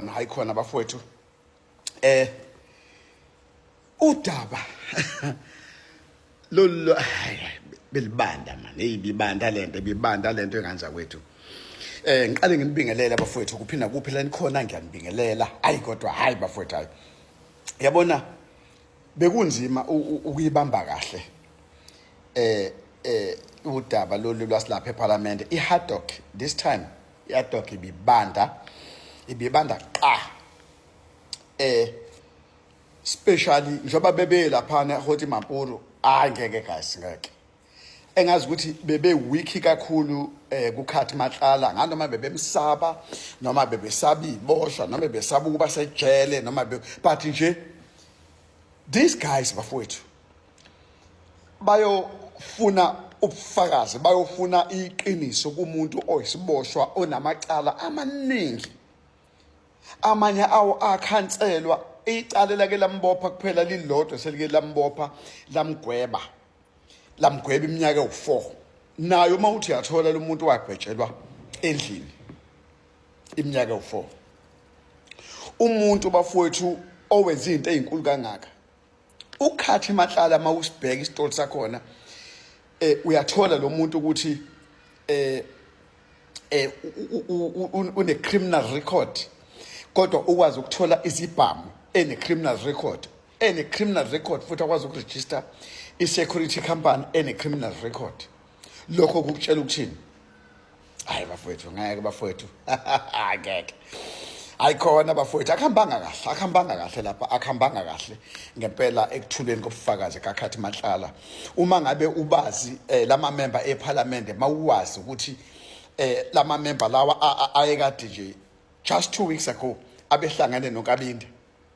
khona hayi khona bafowethu eh udaba lolu belibanda mani hey bibanda lento bibanda lento enganja kwethu eh ngiqale nginibingelela bafowethu kuphinda kuphi la nikhona ngiyanibingelela hayi kodwa hayi bafowethu hayi yabona bekunzima ukuyibamba kahle eh eh udaba lolu lwasilapha eParliament iHaddock this time iadok ibibanda ibibanda qa eh specially njengoba bebe laphana hoti mampuru hayi ngeke guys ngeke engazi ukuthi bebe weak kakhulu eh kukhathi matlala nganoma bebemsaba noma bebesaba iboshwa noma bebesaba ukuba sejele noma but nje these guys bafowethu bayofuna ubufakazi bayofuna iqiniso kumuntu oyisiboshwa onamacala amaningi amanye awo akhanselwa icala lake lambopha kuphela lilodwa selike lambopha lamgweba lamgweba iminyaka ewu-four nayo uma uthi yathola lo muntu wagwetshelwa endlini iminyaka ewu-four umuntu bafowethu owenza izinto ezinkulu kangaka ukhathi mahlala mawusibheka isitolo sakhona eh uyathola lo muntu ukuthi eh eh une criminal record kodwa ukwazi ukuthola izibhamu ene criminal record ene criminal record futhi akwazi ukuregister i security company ene criminal record lokho kukutshela ukuthini hayi bafowethu ngeke bafowethu ngeke ayikhona bafowethu akuhambanga kahle akuhambanga kahle lapha akuhambanga kahle ngempela ekuthuleni kobufakazi kakhathi mahlala uma ngabe ubazi eh, lama member ephalamende mawuwazi ukuthi eh, lama member lawa ayekade nje just 2 weeks ago abehlangane nonkabinde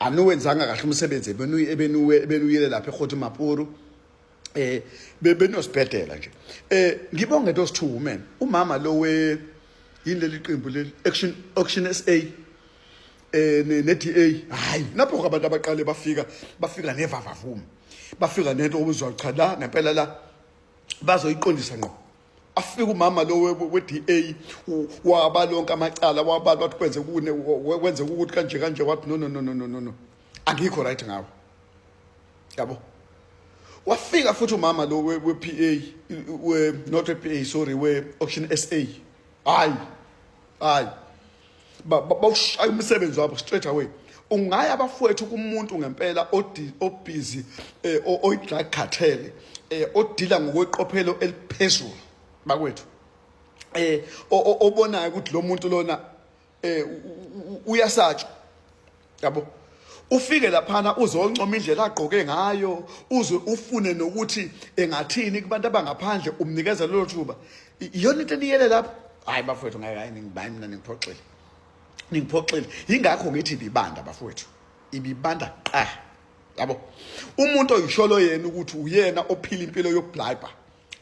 aniwenzanga kahle umsebenzi ebenuyele lapha ekhoti mapuru eh bebenosibhedela nje eh ngibonge those two women umama lo we yini leli qembu leli action action SA eh ne-DA hayi lapho abantu abaqale bafika bafika nevavavuma bafika nento obuzwa cha la ngempela la bazoyiqondisa ngqo afike umama lo we-DA waba lonke amacala wabala wathi kwenze kune kwenze ukuthi kanje kanje wathi no no no no no no angikho right ngawo yabo wafika futhi umama lo we-PA we not we-PA sorry we-auction SA hayi hayi bawushaya umsebenzi wabo straight away ungaya bafowethu kumuntu ngempela obhizi eh, oyi-drug cartel eh, odila ngokweqophelo eliphezulu bakwethu eh obonayo ukuthi lo muntu lona eh uyasatshwa yabo ufike laphana uzoncoma indlela agqoke ngayo uze ufune nokuthi engathini kubantu abangaphandle umnikeza lelo thuba iyona into eniyele lapho hayi bafowethu ngeke hayi ngibayi mina ningiphoxile ningiphoxile yingakho ngithi ibibanda bafowethu ibibanda qah yabo umuntu oyisholo yena ukuthi uyena ophila impilo yokubhlayibha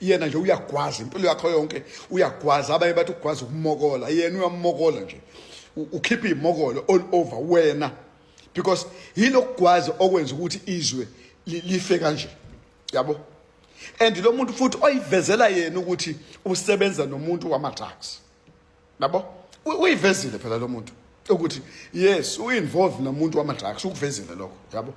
yena nje uyagwaza impilo yakho yonke uyagwaza abanye bathi ugwaza ukumokola yena uyamokola nje ukhipha imokolo all over wena because yilokugwaza okwenza ukuthi izwe life kanje yabo and lo muntu futhi oyivezela yena ukuthi usebenza nomuntu wama-drugs nabo uyivezile phela lo muntu ukuthi yes uinvolve nomuntu wama drugs ukuvezile lokho yabo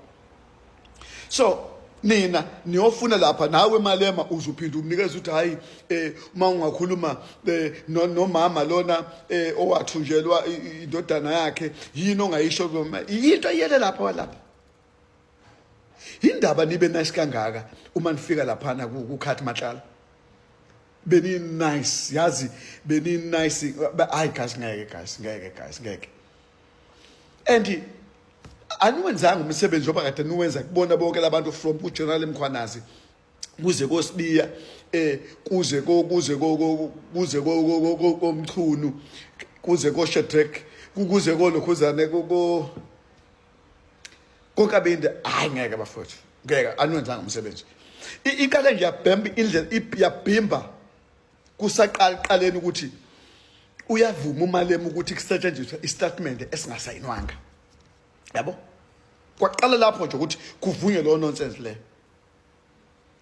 so nina niyofuna lapha nawe malema uzuphinda umnikeza ukuthi hayi eh uma ungakhuluma eh, nomama lona eh, owathunjelwa indodana yakhe yini ongayisho kuma into iyele lapha walapha indaba nibe nice kangaka uma nifika lapha na kukhathi matlala beni nice yazi beni nice hayi guys ngeke guys ngeke guys ngeke and aniwenzanga umsebenzi oba kade niwenza kubona bonke labantu from ku general mkhwanazi kuze kosibiya eh kuze ko kuze ko kuze ko komchunu kuze ko shetrek kuze ko lokhuzane ko kokabindi hayi ngeke bafowethu ngeke anwenzanga umsebenzi iqale nje yabhemba indlela yabhimba kusaqala qaleni ukuthi uyavuma umalema ukuthi kusetshenziswe istatimende esingasayinwanga yabo kwaqala lapho nje ukuthi kuvunywe lowo nonsense leyo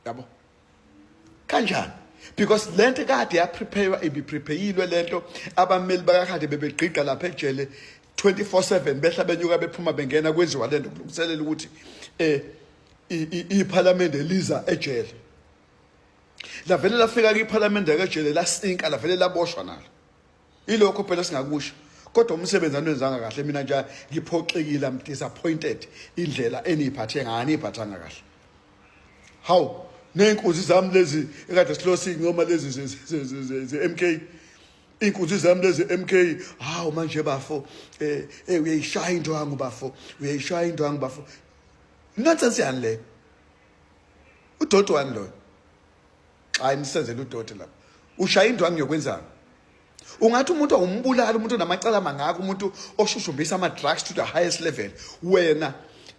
yabo kanjani because le nto kade yaprepaywa ibiprepayilwe le nto abameli bakakade bebegqigqa lapha ejele 24/7 behla benyuka bephuma bengena kwenziwa le nto kulungiselela ukuthi eh iphalamende liza ejele lavele lafika kiphalamende kajele lasinka lavele laboshwa nalo ilokho phela singakusho kodwa umsebenzi anwenzanga kahle mina nje ngiphoxekile am disappointed indlela eniyiphathe ngayo aniyiphathanga kahle hawu ney'nkunzi zami lezi ekade silosi noma lezi ze-m k iy'nkunzi zami lezi m k hawu manje bafo um eh, eh, uyayishaya indwangu bafo uyayishaya indwangu bafo nonsense yani leyo udoti wani loyo xa imsenzela udoti lapho ushaya indwangu yokwenzani ungathi umuntu awumbulali umuntu onamacala amangaka umuntu oshushumbisa ama-drugs to the highest level wena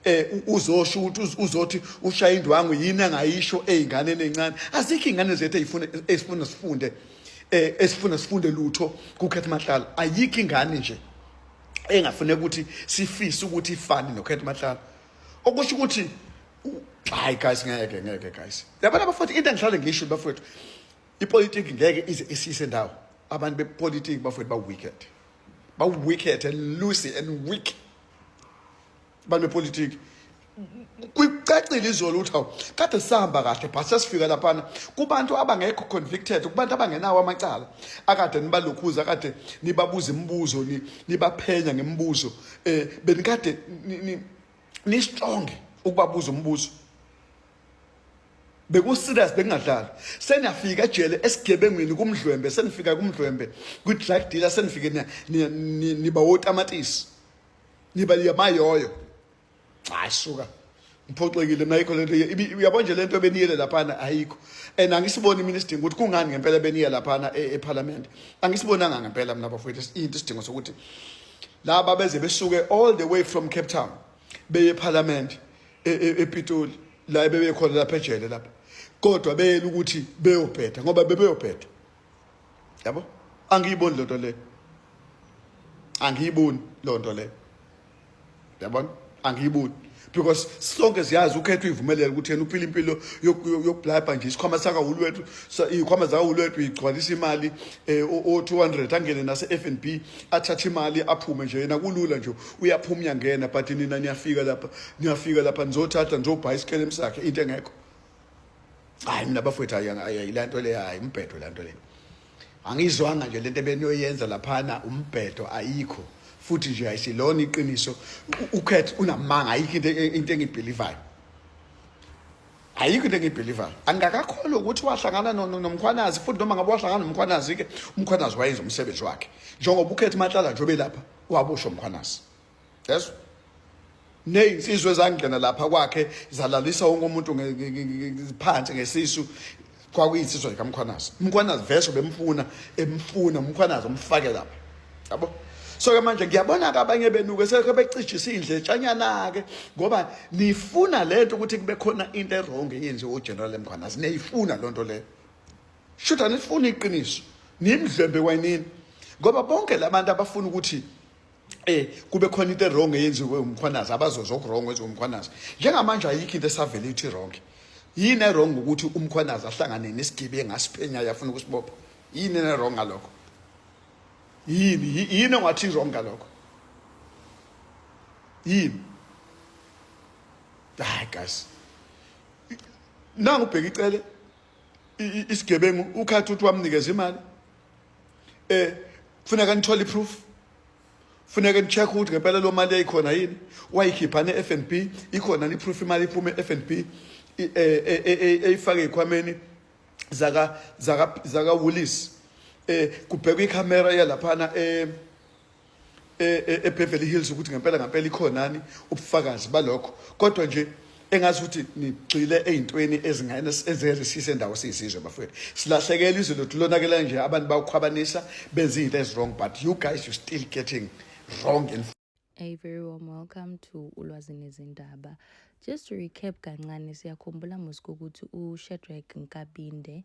eh uzosho ukuthi uzothi ushaya indwangu yini angayisho ezinganeni ezincane azikho izingane zethu ezifuna ezifuna sifunde eh esifuna sifunde lutho kuKhethi Mahlala ayikho ingane nje engafune ukuthi sifise ukuthi ifane noKhethi Mahlala okusho ukuthi hayi guys ngeke ngeke guys yabona bafowethu into engihlale ngisho bafowethu ipolitiki ngeke ize isise ndawo abantu bepolitiki bafowethu ba-wicked ba-wicked and loosey and weak abantu bepolitiki kwicacile izolo ukuthi hawu kade sihamba kahle but sesifika laphana kubantu abangekho convicted kubantu abangenawo amacala akade nibalokhuza akade nibabuza imibuzo nibaphenya ngemibuzo eh benikade ni strong ukubabuza umbuzo beku serious bekungadlali seniyafika ejele esigebengwini kumdlwembe senifika kumdlwembe kwi drug dealer senifike niba wotamatisi niba yamayoyo hayi suka ngiphoxekile mina ayikho lento uyabo nje lento beniyele laphana ayikho and angisiboni mina isidingo ukuthi kungani ngempela beniye laphana e-, ephalamende angisibonanga ngempela mina bafowethu into isidingo sokuthi laba beze besuke all the way from cape town beye ephalamende e-, e-, epitoli la bebekhona lapha ejele lapha kodwa beyela ukuthi beyobheda ngoba bebeyobheda yabo angiyiboni lento le angiyiboni lonto le yabona angiyiboni because sonke siyazi ukhetha uyivumelele ukuthi yena uphila impilo yokublabha nje isikhwama sakahulu wethu iy'khwama zakahulu wethu igcwalisa imali um eh, o-two hundred angene nase-f n b athathe imali aphume nje yena kulula nje uyaphuma uyangena but nina niyafika lapha niyafika lapha nizothatha nizobhayi isikelem sakhe into engekho hhayi mina bafowethu ayila nto leyo hhayi umbhedo la nto leyo angiyizwanga nje lento ebeniyoyenza laphana umbhedo ayikho futhi nje ayisilona iqiniso ukhethe unamanga ayikho into e, into engibhelivayo ayikho into engibhelivayo angakakholwa ukuthi wahlangana nomkhwanazi futhi noma ngabe wahlangana nomkhwanazi-ke umkhwanazi wayenza umsebenzi wakhe njengoba ukhethe mahlala nje obelapha wabusha umkhwanazi yezwa neyinsizwa ezangena lapha kwakhe zalalisa wonke umuntu phansi ngesisu kwakuyinsizwa likamkhwanazi umkhwanazi vese bemfuna emfuna umkhwanazi umfake lapha yabo so ke manje ngiyabona-ke abanye benu-ke selokho becijisa indletshanyana-ke ngoba nifuna le nto ukuthi kube khona into erongo eyenziwe ugeneral emkhwanazi niyifuna loo nto leyo shuthi anifuni iqiniso nimdlwembe kwanini ngoba bonke la bantu abafuna ukuthi eh kube khona into wrong eyenziwe umkhwanazi abazoza okwrong wenziwe umkhwanazi njengamanje ayikho into esavele ithi wrong yini ewrong ukuthi umkhwanazi ahlangane nesigibe engasiphenya yafuna ukusibopha yini ewrong ngalokho yini yini ongathi wrong ngalokho yini hayi guys nangu ubheka icele isigebengu ukhathi ukuthi wamnikeza imali eh kufuneka nithole iproof funeka nicheck ukuthi ngempela lo mali yayikhona yini wayikhipha ne-f n b ikhona niproof imali iphume e-f n b eyifake ey'khwameni zaka zaka zaka Woolies eh kubhekwa ikhamera yalaphana eh eBeverly e, e Hills ukuthi ngempela ngempela ikhonani ubufakazi balokho kodwa nje engazi ukuthi nigxile ezintweni ezingane ezizisise ndawo siyisizwe bafowethu silahlekela izwe lothu lonakela nje abantu bawukhwabanisa benza izinto ezirong but you guys you still getting wrong and A very warm welcome to Ulwazi Nezindaba. Just to recap kancane siyakhumbula musuku ukuthi uShedrack Nkabinde